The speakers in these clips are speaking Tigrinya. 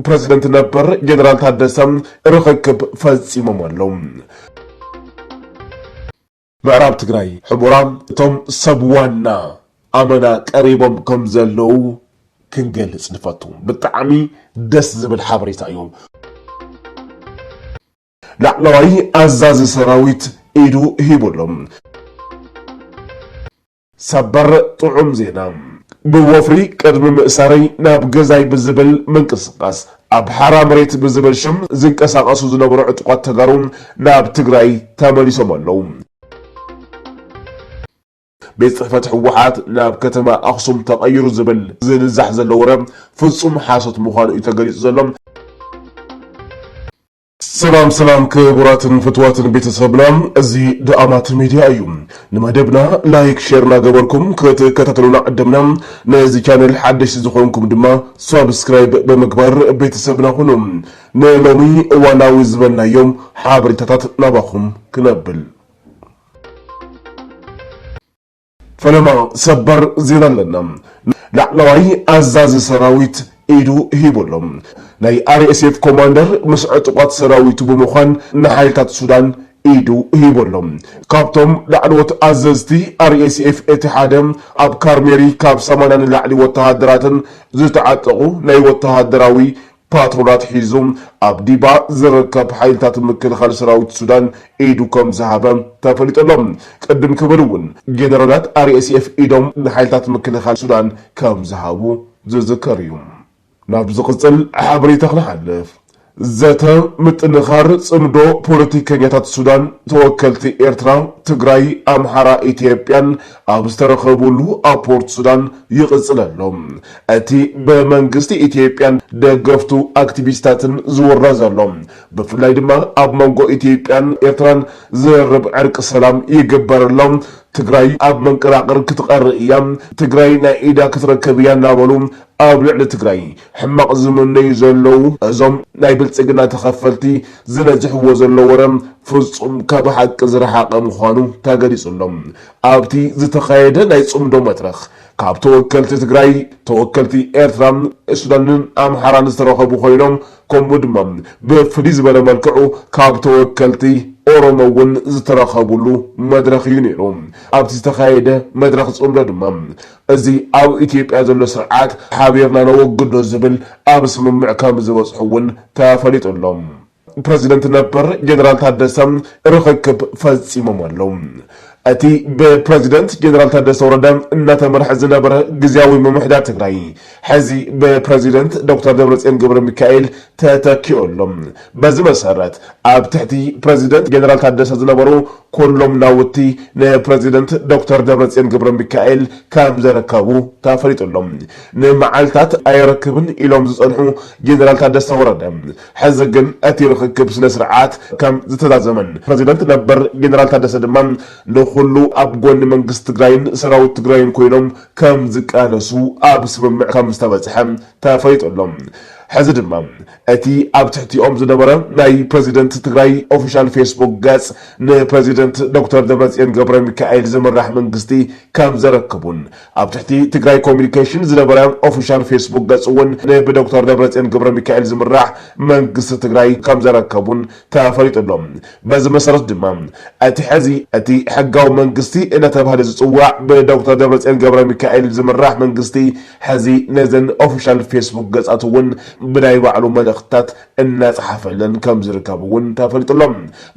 ፕረዚደንት ነበር ጀነራል ታደሰ ርኽክብ ፈጺሞም ኣለዉ። ምዕራብ ትግራይ ሕቡራ እቶም ሰብ ዋና ኣመና ቀሪቦም ከም ዘለዉ ክንገልጽ ንፈቱ። ብጣዕሚ ደስ ዝብል ሓበሬታ እዩ። ላዕለዋይ ኣዛዚ ሰራዊት ኢዱ ሂቡ ኣሎ። ሰበር ጥዑም ዜና! ብወፍሪ ቅድሚ ምእሳረይ ናብ ገዛይ ብዝብል ምንቅስቃስ ኣብ ሓራ መሬት ብዝብል ሽም ዝንቀሳቀሱ ዝነበሩ ዕጡቃት ተጋሩ ናብ ትግራይ ተመሊሶም ኣለው። ቤት ፅሕፈት ህወሓት ናብ ከተማ ኣክሱም ተቀይሩ ዝብል ዝንዛሕ ዘሎ ወረ ፍፁም ሓሶት ምዃኑ እዩ ተገሊፁ ዘሎ። ሰላም ሰላም ክቡራትን ፍትዋትን ቤተሰብና እዚ ድኣማት ሚድያ እዩ ንመደብና ላይክ ሼር ናገበርኩም ክትከታተሉና ዕደምና ነዚ ቻነል ሓደሽቲ ዝኾንኩም ድማ ሳብስክራይብ ብምግባር ቤተሰብና ኩኑ ንሎሚ እዋናዊ ዝበልናዮም ሓበሬታታት ናባኹም ክነብል ፈለማ ሰበር ዜና ኣለና ላዕለዋይ ኣዛዚ ሰራዊት ኢዱ ሂቡ ኣሎ። ናይ RSF ኮማንደር ምስ ዕጡቓት ሰራዊቱ ብምዃን ንሓይልታት ሱዳን ኢዱ ሂቡ ኣሎ። ካብቶም ላዕለዎት ኣዘዝቲ RSF እቲ ሓደ ኣብ ካርሜሪ ካብ ሰማንያ ንላዕሊ ወተሃደራትን ዝተዓጠቑ ናይ ወተሃደራዊ ፓትሮላት ሒዙ ኣብ ዲባ ዝርከብ ሓይልታት ምክልኻል ሰራዊት ሱዳን ኢዱ ከምዝሃበ ተፈሊጡ ኣሎ። ቅድም ክብል እውን ጀነራላት RSF ኢዶም ንሓይልታት ምክልኻል ሱዳን ከምዝሃቡ ዝዝከር እዩ። ናብ ዝቕፅል ሓበሬታ ክንሓልፍ። ዘተ ምጥንኻር ፅምዶ ፖለቲከኛታት ሱዳን ተወከልቲ ኤርትራ፣ ትግራይ፣ ኣምሓራ፣ ኢትዮጵያን ኣብ ዝተረኸብሉ ኣብ ፖርት ሱዳን ይቕፅል ኣሎ። እቲ ብመንግስቲ ኢትዮጵያን ደገፍቱ ኣክቲቪስታትን ዝውረ ዘሎ፣ ብፍላይ ድማ ኣብ መንጎ ኢትዮጵያን ኤርትራን ዝርርብ ዕርቂ ሰላም ይግበር ኣሎ፣ ትግራይ ኣብ መንቀራቕር ክትቐሪ እያ፣ ትግራይ ናይ ኢዳ ክትረክብ እያ እናበሉ ኣብ ልዕሊ ትግራይ ሕማቕ ዝምነዩ ዘለዉ እዞም ናይ ብልጽግና ተኸፈልቲ ዝነዝሕዎ ዘሎ ወረ ፍጹም ካብ ሓቂ ዝረሓቐ ምዃኑ ተገሊጹ ኣሎ። ኣብቲ ዝተኻየደ ናይ ጽምዶ መድረኽ ካብ ተወከልቲ ትግራይ፣ ተወከልቲ ኤርትራ፣ ሱዳንን ኣምሓራን ዝተረኸቡ ኮይኖም ከምኡ ድማ ብፍልይ ዝበለ መልክዑ ካብ ተወከልቲ ኦሮሞ እውን ዝተረኸብሉ መድረኽ እዩ ነይሩ። ኣብቲ ዝተኻየደ መድረኽ ፅምዶ ድማ እዚ ኣብ ኢትዮጵያ ዘሎ ስርዓት ሓቢርና ነወግዶ ዝብል ኣብ ስምምዕ ከምዝበፅሑ እውን ተፈሊጡ ኣሎ። ፕረዚደንት ነበር ጀነራል ታደሰ ርኽክብ ፈፂሞም ኣለው። እቲ ብፕረዚደንት ጀነራል ታደሰ ወረደ እናተመርሐ ዝነበረ ግዝያዊ ምምሕዳር ትግራይ ሕዚ ብፕረዚደንት ዶክተር ደብረፅዮን ገብረሚካኤል ተተኪኡ ኣሎ። በዚ መሰረት ኣብ ትሕቲ ፕረዚደንት ጀነራል ታደሰ ዝነበሩ ኩሎም ናውቲ ንፕረዚደንት ዶክተር ደብረፅዮን ገብረሚካኤል ከምዘረከቡ ተፈሊጡ ኣሎ። ንመዓልታት ኣየረክብን ኢሎም ዝፀንሑ ጀነራል ታደሰ ወረደ ሕዚ ግን እቲ ርኽክብ ስነ ስርዓት ከም ዝተዛዘመን ፕረዚደንት ነበር ጀነራል ታደሰ ድማ ንኹሉ ኣብ ጎኒ መንግስቲ ትግራይን ሰራዊት ትግራይን ኮይኖም ከም ዝቃለሱ ኣብ ስምምዕ ከም ዝተበፅሐ ተፈሊጡ ኣሎ። ሕዚ ድማ እቲ ኣብ ትሕቲኦም ዝነበረ ናይ ፕረዚደንት ትግራይ ኦፊሻል ፌስቡክ ገፅ ንፕረዚደንት ዶክተር ደብረፅዮን ገብረሚካኤል ዝምራሕ መንግስቲ ከም ዘረክቡን ኣብ ትሕቲ ትግራይ ኮሙዩኒኬሽን ዝነበረ ኦፊሻል ፌስቡክ ገፁ እውን ንብዶክተር ደብረፅዮን ገብረሚካኤል ዝምራሕ መንግስቲ ትግራይ ከምዘረከቡን ተፈሊጡ ኣሎ። በዚ መሰረት ድማ እቲ ሕዚ እቲ ሕጋዊ መንግስቲ እናተብሃለ ዝፅዋዕ ብዶክተር ደብረፅዮን ገብረሚካኤል ዝምራሕ መንግስቲ ሕዚ ነዘን ኦፊሻል ፌስቡክ ገፃት እውን ብናይ ባዕሉ መልእኽትታት እናፀሓፈለን ከምዝርከብ እውን ተፈሊጡ ኣሎ።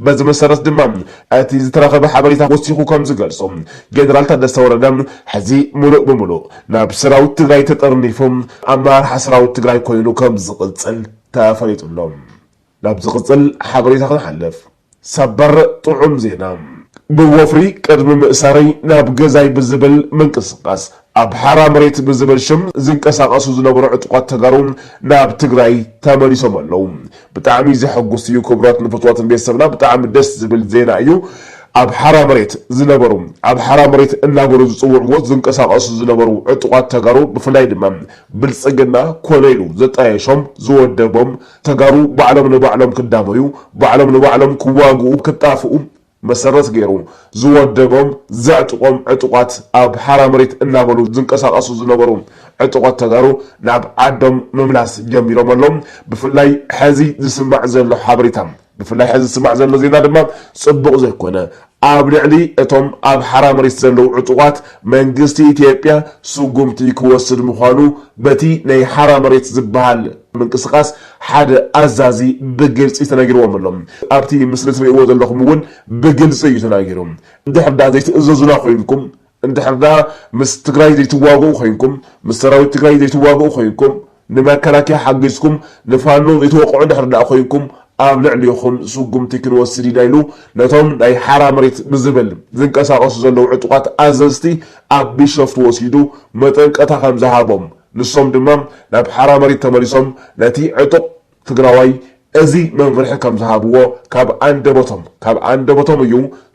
በዚ መሰረት ድማ እቲ ዝተረኸበ ሓበሬታ ወሲኹ ከምዝገልፆ ጀነራል ታደሰ ወረደ ሕዚ ሙሉእ ብሙሉእ ናብ ሰራዊት ትግራይ ተጠርኒፉ ኣመራርሓ ሰራዊት ትግራይ ኮይኑ ከምዝቕፅል ተፈሊጡ ኣሎ። ናብ ዝቕፅል ሓበሬታ ክንሓልፍ። ሰበር ጥዑም ዜና! ብወፍሪ ቅድሚ ምእሳረይ ናብ ገዛይ ብዝብል ምንቅስቃስ ኣብ ሓራ መሬት ብዝብል ሽም ዝንቀሳቀሱ ዝነበሩ ዕጡቃት ተጋሩ ናብ ትግራይ ተመሊሶም ኣለው ብጣዕሚ ዘሐጉስ እዩ ክብራት ንፍትዋትን ቤተሰብና ብጣዕሚ ደስ ዝብል ዜና እዩ ኣብ ሓራ መሬት ዝነበሩ ኣብ ሓራ መሬት እናበሉ ዝፅውዕዎ ዝንቀሳቀሱ ዝነበሩ ዕጡቃት ተጋሩ ብፍላይ ድማ ብልፅግና ኮነ ኢሉ ዘጣየሾም ዝወደቦም ተጋሩ ባዕሎም ንባዕሎም ክዳመዩ፣ ባዕሎም ንባዕሎም ክዋግኡ፣ ክጣፍኡ መሰረት ገይሩ ዝወደቦም ዘዕጥቖም ዕጡቓት ኣብ ሓራ መሬት እናበሉ ዝንቀሳቐሱ ዝነበሩ ዕጡቐት ተጋሩ ናብ ዓዶም ምምላስ ጀሚሮም ኣለው ብፍላይ ሐዚ ዝስማዕ ዘሎ ሓበሬታ ብፍላይ ሐዚ ዝስማዕ ዘሎ ዜና ድማ ፅቡቕ ዘይኮነ ኣብ ልዕሊ እቶም ኣብ ሓራ መሬት ዘለው ዕጡቓት መንግስቲ ኢትዮጵያ ስጉምቲ ክወስድ ምዃኑ በቲ ናይ ሓራ መሬት ዝብሃል ምንቅስቓስ ሓደ ኣዛዚ ብግልፂ ተነጊርዎም ኣሎ። ኣብቲ ምስሊ ትሪእዎ ዘለኹም እውን ብግልፂ እዩ ተናጊሩ። እንድሕር ዳኣ ዘይትእዘዙና ኮይንኩም እንድሕር ደኣ ምስ ትግራይ ዘይትዋግኡ ኮይንኩም፣ ምስ ሰራዊት ትግራይ ዘይትዋግኡ ኮይንኩም፣ ንመከላከያ ሓጊዝኩም ንፋኖ ዘይትወቕዑ እንድሕር ደኣ ኮይንኩም ኣብ ልዕሊኹም ስጉምቲ ክንወስድ ኢና ኢሉ ነቶም ናይ ሓራ መሬት ብዝብል ዝንቀሳቐሱ ዘለዉ ዕጡቓት ኣዘዝቲ ኣብ ቢሸፍቱ ወሲዱ መጠንቀታ ከምዝሃቦም ንሶም ድማ ናብ ሓራ መሬት ተመሊሶም ነቲ ዕጡቕ ትግራዋይ እዚ መምርሒ ከም ዝሃብዎ ካብ ኣንደበቶም ካብ ኣንደበቶም እዩ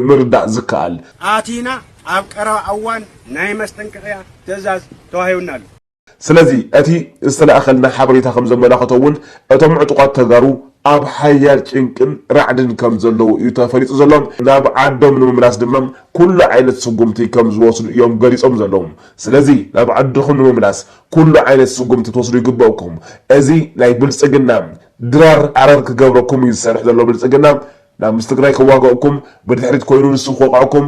ምርዳእ ዝከኣል። ኣቲና ኣብ ቀረባ ኣዋን ናይ መስጠንቀቕያ ትእዛዝ ተዋሂቡና ኣሎ። ስለዚ እቲ ዝተላእከልና ሓበሬታ ከም ዘመላኽቶ እውን እቶም ዕጡቓት ተጋሩ ኣብ ሓያል ጭንቅን ራዕድን ከም ዘለዉ እዩ ተፈሊጡ ዘሎ። ናብ ዓዶም ንምምላስ ድማ ኩሉ ዓይነት ስጉምቲ ከም ዝወስዱ እዮም ገሊፆም ዘለዉ። ስለዚ ናብ ዓድኹም ንምምላስ ኩሉ ዓይነት ስጉምቲ ክትወስዱ ይግበእኩም እዚ ናይ ብልፅግና ድራር ኣረር ክገብረኩም እዩ ዝሰርሕ ዘሎ ብልፅግና ናብ ምስ ትግራይ ክዋገእኩም ብድሕሪት ኮይኑ ንሱ ክወቅዕኩም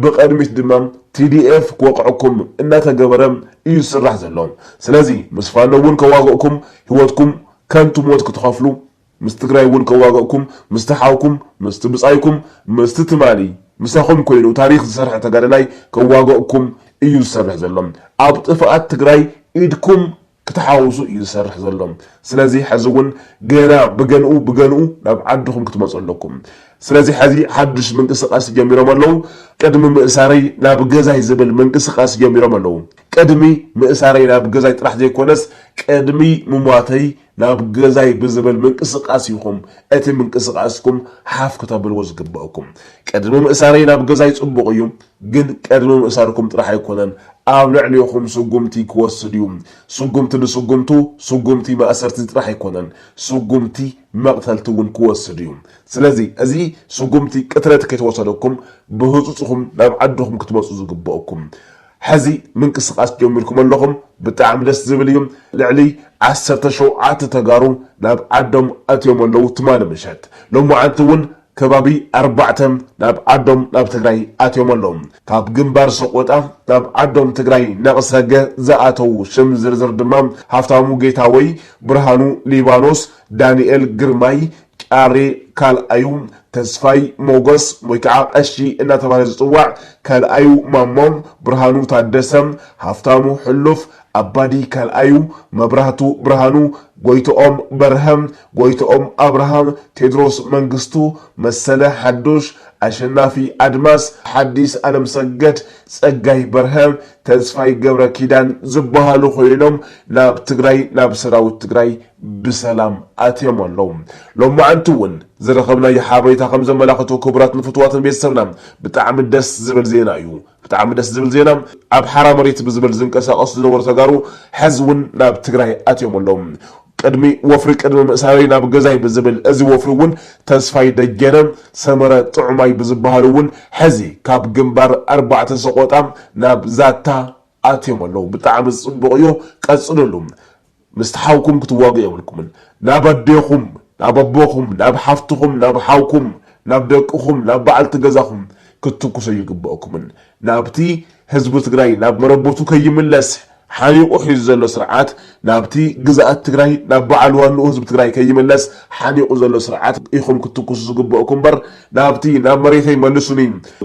ብቅድሚት ድማ TDF ክወቅዕኩም እናተገበረ እዩ ዝስራሕ ዘሎ ስለዚ ምስ ፋኖ እውን ከዋገእኩም ሂወትኩም ከንቱ ሞት ክትኸፍሉ ምስ ትግራይ እውን ከዋግእኩም ምስቲ ሓውኩም ምስቲ ብፃይኩም ምስቲ ትማሊ ምሳኹም ኮይኑ ታሪኽ ዝሰርሐ ተጋዳላይ ከዋግእኩም እዩ ዝሰርሕ ዘሎ ኣብ ጥፍኣት ትግራይ ኢድኩም ክተሓውሱ እዩ ዝሰርሕ ዘሎ ስለዚ ሐዚ እውን ገና ብገንኡ ብገንኡ ናብ ዓድኹም ክትመፁ ኣለኩም ስለዚ ሐዚ ሓዱሽ ምንቅስቃስ ጀሚሮም ኣለው ቅድሚ ምእሳረይ ናብ ገዛይ ዝብል ምንቅስቃስ ጀሚሮም ኣለው ቅድሚ ምእሳረይ ናብ ገዛይ ጥራሕ ዘይኮነስ ቅድሚ ምሟተይ ናብ ገዛይ ብዝብል ምንቅስቃስ ኢኹም እቲ ምንቅስቃስኩም ሓፍ ክተብልዎ ዝግበእኩም። ቅድሚ ምእሳረይ ናብ ገዛይ ጽቡቕ እዩ፣ ግን ቅድሚ ምእሳርኩም ጥራሕ ኣይኮነን ኣብ ልዕሌኹም ስጉምቲ ክወስድ እዩ። ስጉምቲ ንስጉምቱ ስጉምቲ ማእሰርቲ ጥራሕ ኣይኮነን፣ ስጉምቲ መቕተልቲ እውን ክወስድ እዩ። ስለዚ እዚ ስጉምቲ ቅትለት ከይተወሰደኩም ብህጹጽ ኢኹም ናብ ዓድኹም ክትመጹ ዝግበእኩም። ሐዚ ምንቅስቃስ ጀሚርኩም ኣለኹም ብጣዕሚ ደስ ዝብል እዩ ልዕሊ ዓሰርተ ሸውዓተ ተጋሩ ናብ ዓዶም ኣትዮም ኣለው ትማሊ ምሸት ሎማዓንቲ እውን ከባቢ ኣርባዕተ ናብ ዓዶም ናብ ትግራይ ኣትዮም ኣለው ካብ ግንባር ሰቆጣ ናብ ዓዶም ትግራይ ነቅሰገ ዝኣተው ሽም ዝርዝር ድማ ሃፍታሙ ጌታወይ ብርሃኑ ሊባኖስ ዳኒኤል ግርማይ ጫሬ ካልኣዩ ተስፋይ ሞገስ ወይ ከዓ ቀሺ እናተባህለ ዝፅዋዕ፣ ካልኣዩ ማሞ ብርሃኑ ታደሰ፣ ሃፍታሙ ሕሉፍ፣ ኣባዲ ካልኣዩ፣ መብራህቱ ብርሃኑ፣ ጎይትኦም በርሀ፣ ጎይትኦም ኣብርሃ፣ ቴድሮስ መንግስቱ፣ መሰለ ሓዱሽ፣ ኣሸናፊ ኣድማስ፣ ሓዲስ ኣለምሰገድ፣ ፀጋይ በርሀ፣ ተስፋይ ገብረኪዳን ዝበሃሉ ኮይኖም ናብ ትግራይ ናብ ሰራዊት ትግራይ ብሰላም ኣትዮም ኣለዉ። ሎማዕንቲ እውን ዝረኸብናዮ ሓበሬታ ከም ዘመላኽቶ ክቡራትን ፍቱዋትን ቤተሰብና ብጣዕሚ ደስ ዝብል ዜና እዩ። ብጣዕሚ ደስ ዝብል ዜና ኣብ ሓራ መሬት ብዝብል ዝንቀሳቀሱ ዝነበሩ ተጋሩ ሐዚ እውን ናብ ትግራይ ኣትዮም ኣለዉ። ቅድሚ ወፍሪ ቅድሚ ምእሳረይ ናብ ገዛይ ብዝብል እዚ ወፍሪ እውን ተስፋይ ደጀነ፣ ሰመረ ጥዑማይ ብዝበሃሉ እውን ሐዚ ካብ ግንባር ኣርባዕተ ሰቆጣ ናብ ዛታ ኣትዮም ኣለዉ። ብጣዕሚ ፅቡቅ እዩ ቀፅልሉ። ምስቲ ሓውኩም ክትዋግኡ የብልኩምን ናብ ኣዴኹም ናብ ኣቦኹም ናብ ሓፍትኹም ናብ ሓውኩም ናብ ደቅኹም ናብ በዓልቲ ገዛኹም ክትትኩሱ ኣይግበእኩምን ናብቲ ህዝቢ ትግራይ ናብ መረበቱ ከይምለስ ሓኒቑ ሒዙ ዘሎ ስርዓት ናብቲ ግዝኣት ትግራይ ናብ በዓል ዋንኡ ህዝቢ ትግራይ ከይምለስ ሓኒቑ ዘሎ ስርዓት ኢኹም ክትትኩሱ ዝግበእኩም እምበር ናብቲ ናብ መሬተይ መልሱኒ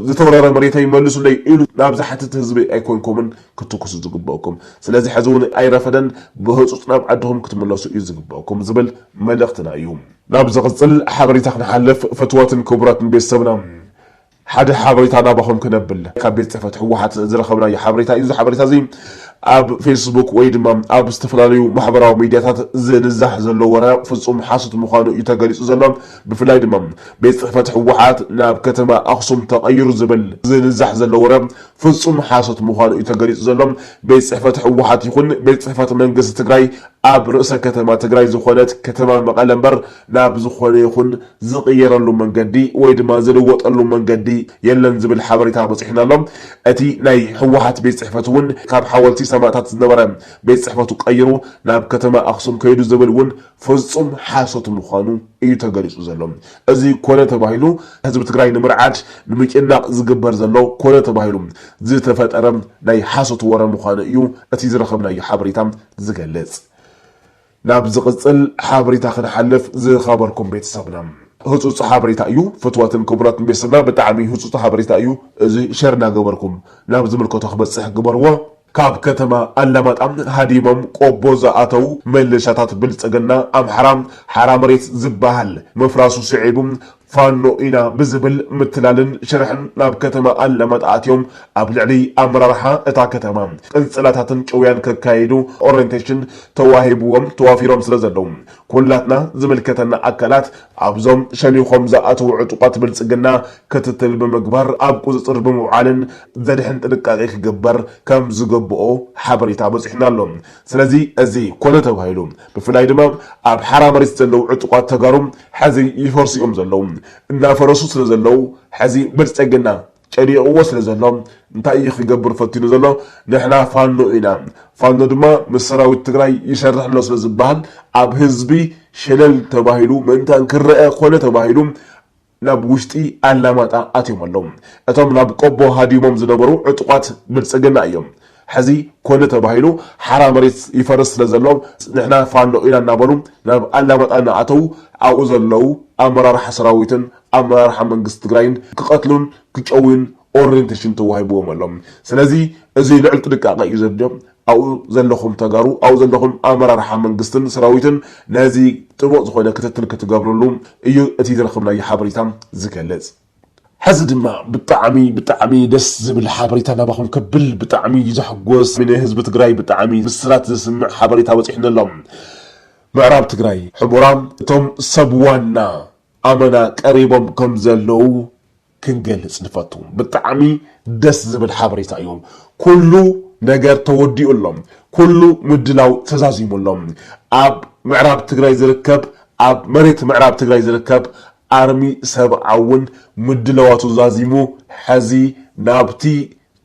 ዝተወረረ መሬተይ መልሱለይ ኢሉ ናብ ዝሓትት ህዝቢ ኣይኮንኩምን ክትትኩሱ ዝግበእኩም ስለዚ ሕዚ እውን ኣይረፈደን ብህፁፅ ናብ ዓድኹም ክትምለሱ እዩ ዝግበእኩም ዝብል መልእኽትና እዩ። ናብ ዝቕፅል ሓበሬታ ክንሓልፍ ፍትወትን ክቡራትን ቤተሰብና ሓደ ሓበሬታ ናባኹም ክነብል ካብ ቤት ፅሕፈት ህወሓት ዝረኸብናዮ ሓበሬታ እዩ እዚ ሓበሬታ እዚ ኣብ ፌስቡክ ወይ ድማ ኣብ ዝተፈላለዩ ማሕበራዊ ሚዲያታት ዝንዛሕ ዘሎ ወረ ፍፁም ሓሶት ምዃኑ እዩ ተገሊፁ ዘሎ ብፍላይ ድማ ቤት ፅሕፈት ህወሓት ናብ ከተማ ኣኽሱም ተቐይሩ ዝብል ዝንዛሕ ዘሎ ወረ ፍፁም ሓሶት ምዃኑ እዩ ተገሊፁ ዘሎ። ቤት ፅሕፈት ህወሓት ይኹን ቤት ፅሕፈት መንግስቲ ትግራይ ኣብ ርእሰ ከተማ ትግራይ ዝኾነት ከተማ መቐለ እምበር ናብ ዝኾነ ይኹን ዝቕየረሉ መንገዲ ወይ ድማ ዝልወጠሉ መንገዲ የለን ዝብል ሓበሬታ በፂሑና ኣሎ። እቲ ናይ ህወሓት ቤት ፅሕፈት እውን ካብ ሓወልቲ ሰማእታት ዝነበረ ቤት ፅሕፈቱ ቀይሩ ናብ ከተማ ኣክሱም ከይዱ ዝብል እውን ፍፁም ሓሶት ምዃኑ እዩ ተገሊፁ ዘሎ። እዚ ኮነ ተባሂሉ ህዝቢ ትግራይ ንምርዓድ፣ ንምጭናቕ ዝግበር ዘሎ ኮነ ተባሂሉ ዝተፈጠረ ናይ ሓሶት ወረ ምዃኑ እዩ እቲ ዝረኸብናዮ ሓበሬታ ዝገልፅ። ናብ ዝቕፅል ሓበሬታ ክንሓልፍ ዝኸበርኩም ቤተሰብና። ህፁፅ ሓበሬታ እዩ ፍትዋትን ክቡራትን ቤተሰብና ብጣዕሚ ህፁፅ ሓበሬታ እዩ እዚ ሸር እናገበርኩም ናብ ዝምልከቶ ክበፅሕ ግበርዎ። ካብ ከተማ ኣላማጣ ሃዲሞም ቆቦ ዝኣተው መለሻታት ብልፅግና ኣምሓራ ሓራ መሬት ዝባሃል ምፍራሱ ስዒቡ ፋኖ ኢና ብዝብል ምትላልን ሽርሕን ናብ ከተማ ኣላማጣ ኣትዮም ኣብ ልዕሊ ኣመራርሓ እታ ከተማ ቅንፅላታትን ጭውያን ከካይዱ ኦሬንቴሽን ተዋሂብዎም ተዋፊሮም ስለዘለው ኩላትና ዝምልከተና ኣካላት ኣብዞም ሸኒኾም ዝኣተዉ ዕጡቓት ብልፅግና ክትትል ብምግባር ኣብ ቁፅፅር ብምውዓልን ዘድሕን ጥንቃቄ ክግበር ከምዝግብኦ ሓበሬታ በፂሑና ኣሎ። ስለዚ እዚ ኮነ ተባሂሉ ብፍላይ ድማ ኣብ ሓራ መሬት ዘለዉ ዕጡቓት ተጋሩ ሐዚ ይፈርሱ እዮም ዘለዉ። እናፈረሱ ስለዘለዉ ሐዚ ብልፅግና ጨኒቕዎ ስለ ዘሎ እንታይ እዩ ክገብር ፈቲኑ ዘሎ ንሕና ፋኖ ኢና ፋኖ ድማ ምስ ሰራዊት ትግራይ ይሰርሕ ኣሎ ስለ ዝበሃል ኣብ ህዝቢ ሸለል ተባሂሉ ምእንታን ክረኣ ኮነ ተባሂሉ ናብ ውሽጢ ኣላማጣ ኣትዮም ኣለዉ እቶም ናብ ቆቦ ሃዲሞም ዝነበሩ ዕጡቓት ብልፅግና እዮም ሕዚ ኮነ ተባሂሉ ሓራ መሬት ይፈርስ ስለ ዘሎ ንሕና ፋኖ ኢና እናበሉ ናብ ኣላማጣ እናኣተዉ ኣብኡ ዘለዉ ኣመራርሓ ሰራዊትን ኣመራርሓ መንግስቲ ትግራይን ክቐትሉን ክጨውዩን ኦሬንቴሽን ተዋሂብዎም ኣሎ። ስለዚ እዙይ ልዑል ጥንቃቐ እዩ ዘድልዮ። ኣብኡ ዘለኹም ተጋሩ ኣብኡ ዘለኹም ኣመራርሓ መንግስትን ሰራዊትን ነዚ ጥቡቕ ዝኾነ ክትትል ክትገብርሉ እዩ እቲ ዝረኸብናዮ ሓበሬታ ዝገልፅ። ሐዚ ድማ ብጣዕሚ ብጣዕሚ ደስ ዝብል ሓበሬታ ናባኹም ከብል ብጣዕሚ እዩ ዘሕጎስ ን ህዝቢ ትግራይ ብጣዕሚ ብስራት ዘስምዕ ሓበሬታ በፂሑኒ ኣሎ ምዕራብ ትግራይ ሑመራ እቶም ሰብ ዋና ኣመና ቀሪቦም ከም ዘለው ክንገልፅ ንፈቱ ብጣዕሚ ደስ ዝብል ሓበሬታ እዩ ኩሉ ነገር ተወዲኡ ኣሎ ኩሉ ምድላው ተዛዚሙ ኣሎ ኣብ ምዕራብ ትግራይ ዝርከብ ኣብ መሬት ምዕራብ ትግራይ ዝርከብ ኣርሚ ሰብዓ እውን ምድላዋቱ ዛዚሙ ሐዚ ናብቲ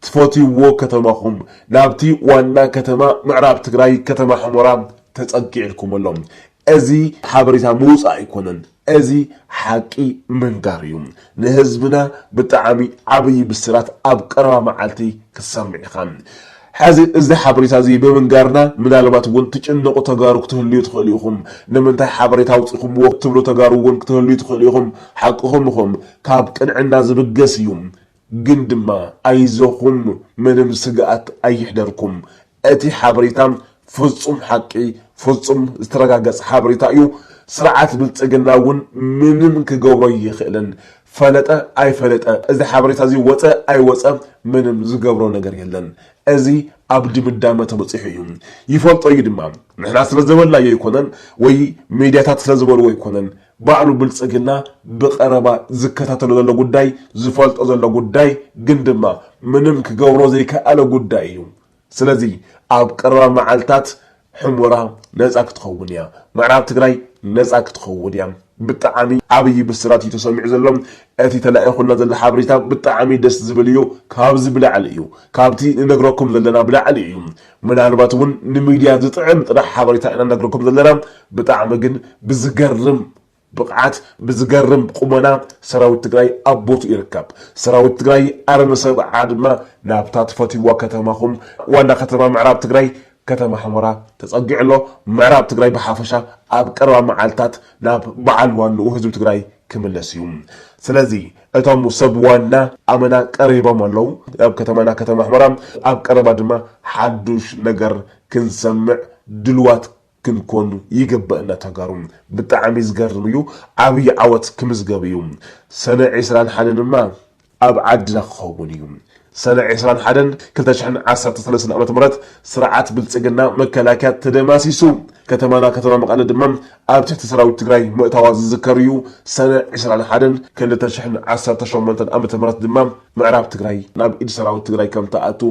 ትፈትይዎ ከተማኹም ናብቲ ዋና ከተማ ምዕራብ ትግራይ ከተማ ሑመራ ተፀጊዕልኩም ኣሎ። እዚ ሓበሬታ ምውፃእ ኣይኮነን እዚ ሓቂ ምንጋር እዩ። ንህዝብና ብጣዕሚ ዓብዪ ብስራት ኣብ ቀረባ መዓልቲ ክትሰምዕ ኢኻ። ሐዚ እዚ ሓበሬታ እዚ ብምንጋርና ምናልባት እውን ትጭነቁ ተጋሩ ክትህልዩ ትኽእሉ ኢኹም። ንምንታይ ሓበሬታ ኣውፂእኹምዎ ትብሉ ተጋሩ እውን ክትህልዩ ትኽእሉ ኢኹም። ሓቅኹም ኢኹም። ካብ ቅንዕና ዝብገስ እዩ። ግን ድማ ኣይዞኹም ምንም ስግኣት ኣይሕደርኩም። እቲ ሓበሬታ ፍፁም ሓቂ ፍፁም ዝተረጋገፀ ሓበሬታ እዩ። ስርዓት ብልፅግና እውን ምንም ክገብሮ ኣይኽእልን። ፈለጠ ኣይፈለጠ እዚ ሓበሬታ እዚ ወፀ ኣይወፀ ምንም ዝገብሮ ነገር የለን። እዚ ኣብ ድምዳመ ተበፂሑ እዩ። ይፈልጦ እዩ ድማ። ንሕና ስለ ዘበልናዮ ኣይኮነን ወይ ሚድያታት ስለ ዝበልዎ ኣይኮነን። ባዕሉ ብልፅግና ብቐረባ ዝከታተሎ ዘሎ ጉዳይ፣ ዝፈልጦ ዘሎ ጉዳይ ግን ድማ ምንም ክገብሮ ዘይከኣለ ጉዳይ እዩ። ስለዚ ኣብ ቀረባ መዓልታት ሑሞራ ነጻ ክትኸውን እያ ምዕራብ ትግራይ ነጻ ክትኸውን እያ ብጣዓሚ ዓብይ ብስራት እዩ ተሰሚዑ ዘሎ እቲ ተላኢኹልና ዘሎ ሓበሬታ ብጣዓሚ ደስ ዝብል እዩ ካብዚ ብላዕሊ እዩ ካብቲ ንነግረኩም ዘለና ብላዕሊ እዩ ምናልባት እውን ንሚድያ ዝጥዕም ጥራሕ ሓበሬታ ኢና ነግረኩም ዘለና ብጣዓሚ ግን ብዝገርም ብቕዓት ብዝገርም ቁመና ሰራዊት ትግራይ ኣብ ቦትኡ ይርከብ። ሰራዊት ትግራይ ኣርሚ ሰብዓ ድማ ናብታ ትፈትይዋ ከተማኹም ዋና ከተማ ምዕራብ ትግራይ ከተማ ሑመራ ተፀጊዑ ኣሎ። ምዕራብ ትግራይ ብሓፈሻ ኣብ ቀረባ መዓልታት ናብ በዓል ዋንኡ ህዝቢ ትግራይ ክምለስ እዩ። ስለዚ እቶም ሰብ ዋና ኣመና ቀሪቦም ኣለው ናብ ከተማና ከተማ ሑመራ። ኣብ ቀረባ ድማ ሓዱሽ ነገር ክንሰምዕ ድሉዋት ክንኮን ይግበእና ተጋሩ ብጣዕሚ ዝገርም እዩ ዓብይ ዓወት ክምዝገብ እዩ ሰነ ዒስራን ሓደን ድማ ኣብ ዓድና ክኸውን እዩ ሰነ ዒስራን ሓደን ክልተ ሽሕን ዓሰርተ ሰለስተን ዓመተ ምህረት ስርዓት ብልፅግና መከላከያ ተደማሲሱ ከተማና ከተማ መቐለ ድማ ኣብ ትሕቲ ሰራዊት ትግራይ ምእታዋ ዝዝከር እዩ ሰነ ዒስራን ሓደን ክልተ ሽሕን ዓሰርተ ሸሞንተን ዓመተ ምህረት ድማ ምዕራብ ትግራይ ናብ ኢድ ሰራዊት ትግራይ ከምትኣቱ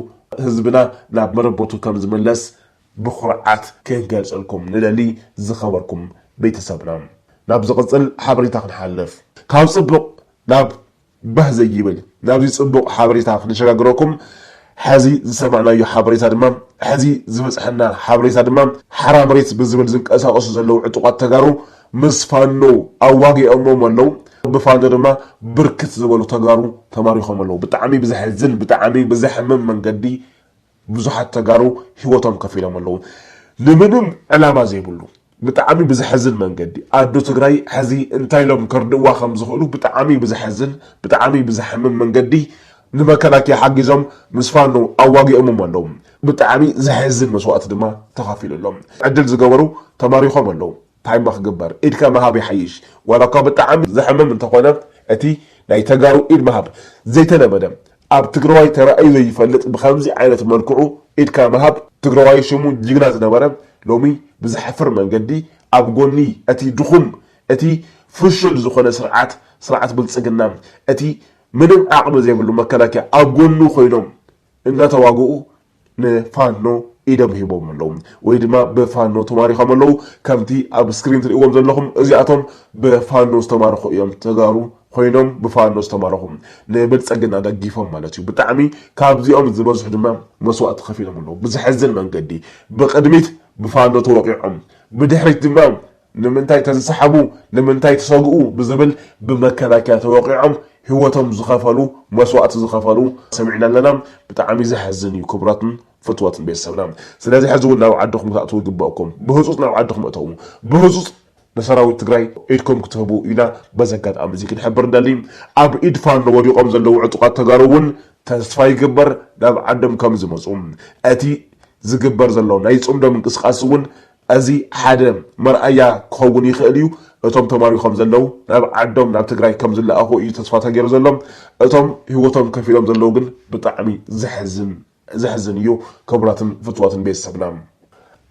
ህዝብና ናብ መረበቱ ከምዝምለስ ብኹርዓት ክንገልጸልኩም ንደሊ ዝኸበርኩም ቤተሰብና። ናብ ዝቕጽል ሓበሬታ ክንሓልፍ ካብ ጽቡቕ ናብ ባህ ዘይብል ናብዚ ጽቡቕ ሓበሬታ ክንሸጋግረኩም ሐዚ ዝሰማዕናዮ ሓበሬታ ድማ ሐዚ ዝበጽሐና ሓበሬታ ድማ ሓራ መሬት ብዝብል ዝንቀሳቐሱ ዘለዉ ዕጡቓት ተጋሩ ምስ ፋኖ ኣዋጊኦሞም ኣለዉ ብፋኖ ድማ ብርክት ዝበሉ ተጋሩ ተማሪኾም ኣለዉ ብጣዕሚ ብዘሕዝን ብጣዕሚ ብዘሕምም መንገዲ ብዙሓት ተጋሩ ሂወቶም ከፊሎም ኣለዉ ንምንም ዕላማ ዘይብሉ ብጣዕሚ ብዘሐዝን መንገዲ ኣዶ ትግራይ ሐዚ እንታይ ኢሎም ከርድእዋ ከምዝኽእሉ ብጣዕሚ ብዘሐዝን ብጣዕሚ ብዘሕምም መንገዲ ንመከላከያ ሓጊዞም ምስ ፋኖ ኣዋጊኦሞም ኣለዉ ብጣዕሚ ዘሕዝን መስዋእቲ ድማ ተኸፊሉ ኣሎ ዕድል ዝገበሩ ተማሪኾም ኣለዉ ታይማ ክግበር ኢድካ ምሃብ ይሓይሽ ዋላኳ ብጣዕሚ ዘሕምም እንተኾነ እቲ ናይ ተጋሩ ኢድ ምሃብ ዘይተለመደ ኣብ ትግረዋይ ተራእዩ ዘይፈልጥ ብኸምዚ ዓይነት መልክዑ ኢድካ ምሃብ ትግረዋይ ሽሙ ጅግና ዝነበረ ሎሚ ብዘሕፍር መንገዲ ኣብ ጎኒ እቲ ድኹም እቲ ፍሹል ዝኾነ ስርዓት ስርዓት ብልፅግና እቲ ምንም ዓቕሚ ዘይብሉ መከላከያ ኣብ ጎኑ ኮይኖም እናተዋግኡ ንፋኖ ኢዶም ሂቦም ኣለዉ ወይ ድማ ብፋኖ ተማሪኾም ኣለዉ ከምቲ ኣብ ስክሪን ትርእዎም ዘለኹም እዚኣቶም ብፋኖ ዝተማረኹ እዮም ተጋሩ ኮይኖም ብፋኖ ዝተማረኹ ንብልፀግና ደጊፎም ማለት እዩ ብጣዕሚ ካብዚኦም ዝበዝሑ ድማ መስዋእቲ ከፊሎም ኣለዉ ብዘሕዝን መንገዲ ብቅድሚት ብፋኖ ተወቂዖም ብድሕሪት ድማ ንምንታይ ተዝሰሓቡ ንምንታይ ትሰግኡ ብዝብል ብመከላከያ ተወቂዖም ሂወቶም ዝኸፈሉ መስዋእቲ ዝኸፈሉ ሰሚዕና ኣለና ብጣዕሚ ዘሕዝን እዩ ክቡራትን ፍትወትን ቤተሰብና ስለዚ ሕዚ ውን ናብ ዓድኹም ክትኣትዉ ይግበእኩም ብህፁፅ ናብ ዓድኹም እተዉ ብህፁፅ ንሰራዊት ትግራይ ኢድኩም ክትህቡ ኢና በዚ ኣጋጣሚ እዚ ክንሕብር ንደሊ ኣብ ኢድ ፋኖ ወዲቆም ዘለዉ ዕጡቃት ተጋሩ ውን ተስፋ ይግበር ናብ ዓዶም ከምዝመፁ እቲ ዝግበር ዘሎ ናይ ፅምዶ ምንቅስቃስ ውን እዚ ሓደ መርኣያ ክኸውን ይኽእል እዩ። እቶም ተማሪኾም ዘለዉ ናብ ዓዶም ናብ ትግራይ ከም ዝለኣኹ እዩ ተስፋ ተገይሩ ዘሎ። እቶም ሂወቶም ከፊሎም ዘለዉ ግን ብጣዕሚ ዘሕዝን ዘሕዝን እዩ ክቡራትን ፍቱዋትን ቤተሰብና።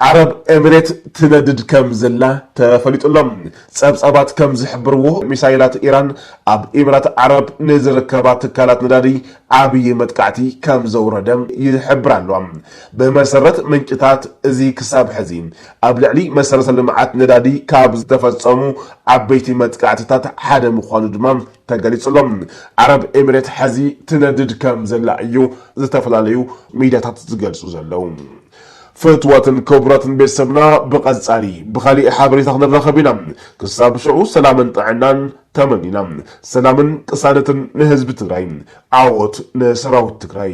ዓረብ ኤምሬት ትነድድ ከም ዘላ ተፈሊጡ ኣሎ። ጸብጻባት ከም ዝሕብርዎ ሚሳይላት ኢራን ኣብ ኢምራት ዓረብ ንዝርከባ ትካላት ነዳዲ ዓብዪ መጥቃዕቲ ከም ዘውረደ ይሕብራ ኣለዋ። ብመሰረት ምንጭታት፣ እዚ ክሳብ ሕዚ ኣብ ልዕሊ መሰረተ ልምዓት ነዳዲ ካብ ዝተፈፀሙ ዓበይቲ መጥቃዕትታት ሓደ ምዃኑ ድማ ተገሊፁ ኣሎ። ዓረብ ኤምሬት ሕዚ ትነድድ ከም ዘላ እዩ ዝተፈላለዩ ሚድያታት ዝገልፁ ዘለዉ። ፍትወትን ክብረትን ቤተሰብና ብቀጻሊ ብካሊእ ሓበሬታ ክንራከብ ኢና ክሳብ ሽዑ ሰላምን ጥዕናን ተመኒና ሰላምን ቅሳነትን ንህዝቢ ትግራይ ዓወት ንሰራዊት ትግራይ።